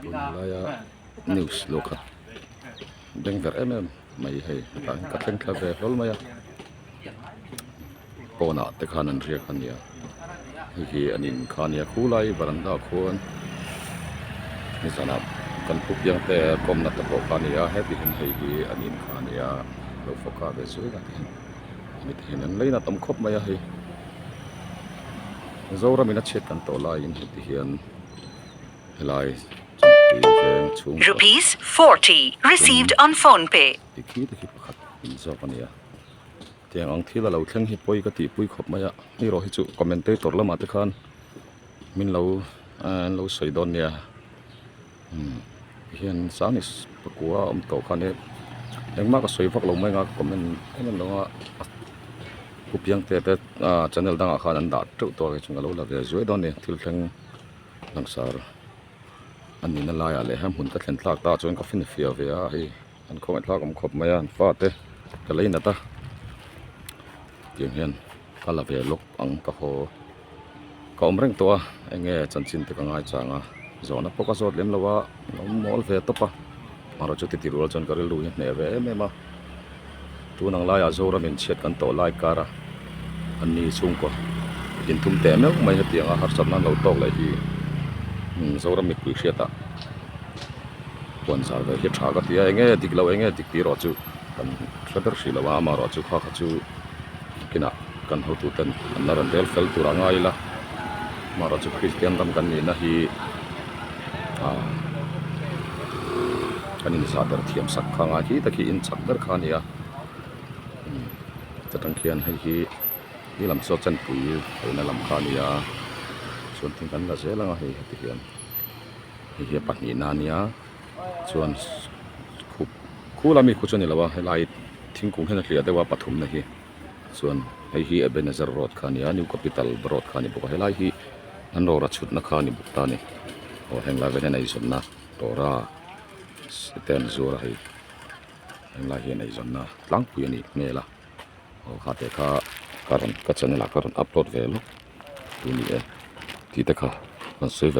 tunlaia news lawk kha beng ber em em mai hei hetah ka thleng thla ve hlawl mai a pawn ah te khan an riak a nia hei hi an in kha a nia khu lai varanda ah khuan ni zan ah kan pu piang te kawmna te pawh kha a ni a hetihin hei hi an inkha a nia lo fawk a ve zui a. mi thei an ngei nâ tam khawp mai a hei Zoram in a chhiat kan tawh lai in heti hian helai Rupees forty received on phone pay tikhi tikhi pakhat in zawk a nia tiang ang thil a lo thleng hi pawi ka tih pui khawp mai a ni rawh hi chu commentator lamah te khan min lo eee an lo sawi dawn nia. umm ti hian sang is ka ku a awm tawh khan hi engmah ka sawi vak lo mai nga ka comment em em lo nga a pu piangte te ahh channel dangah khan an dah teuh tawh ang inchung ka lo la ve zuai dawn a ni thil thleng langsar a nihna laiah leh hmun ka thlen tlak ta ah chuan ka feel fiah ve a hei. An khawngaih thlak awm khawp mai a, an fate ka lei nat a, tiang hian ka la ve lawk ang ka haw. Ka awm reng tawh a, enge chanchin te ka ngaichang a, zawhna pawh ka zawt lem lo a, an awm mawl ve tawp a, amaherawhchu titi rual chuan ka rilru hi hneh ve em em a. Tun ang laiah Zoram in chhiat kan tawh lai kar a, an ni chhungkaw i din thum teh meuh mai hetianga harsat nan lo tawk leh hi, umm Zoram mipuii hriatah puan zar ve hi tha ka tia eng nge dik lo eng nge dik tih erawh chu kan hre ber hrih lo a, amaherawhchu kha kha chu a kinah. Kan hotu ten an la rawn rel fel tur a ngai ila, mahra chu Kristian ram kan nihna hi aah kan inzah ber thiam sak kha ngai khi tak hi in chak ber kha a ni a, umm chutang khian hei hi i lam chu a chanpui theihna lam kha a ni a, chuan thing kan la zel anga hei heti hian hei hi a pahnihna a nia chuan khup khula mi khaw chu a ni lo a helai thingkung hena hliah deuha pathumna hi. chuan hei hi Ebenezer road kha a ni a New Capital road kha a ni bawk a helai hi an rawra chhutna kha a ni bawk ta a ni aw heng lai hian eizawnna rawra te an zuar a hei heng lai hian eizawnna tlangpui a nih hmel a aw kha te kha ka rawn ka channel ah ka rawn upload ve lawk tih a ni e tih te kha rawn sawi ve--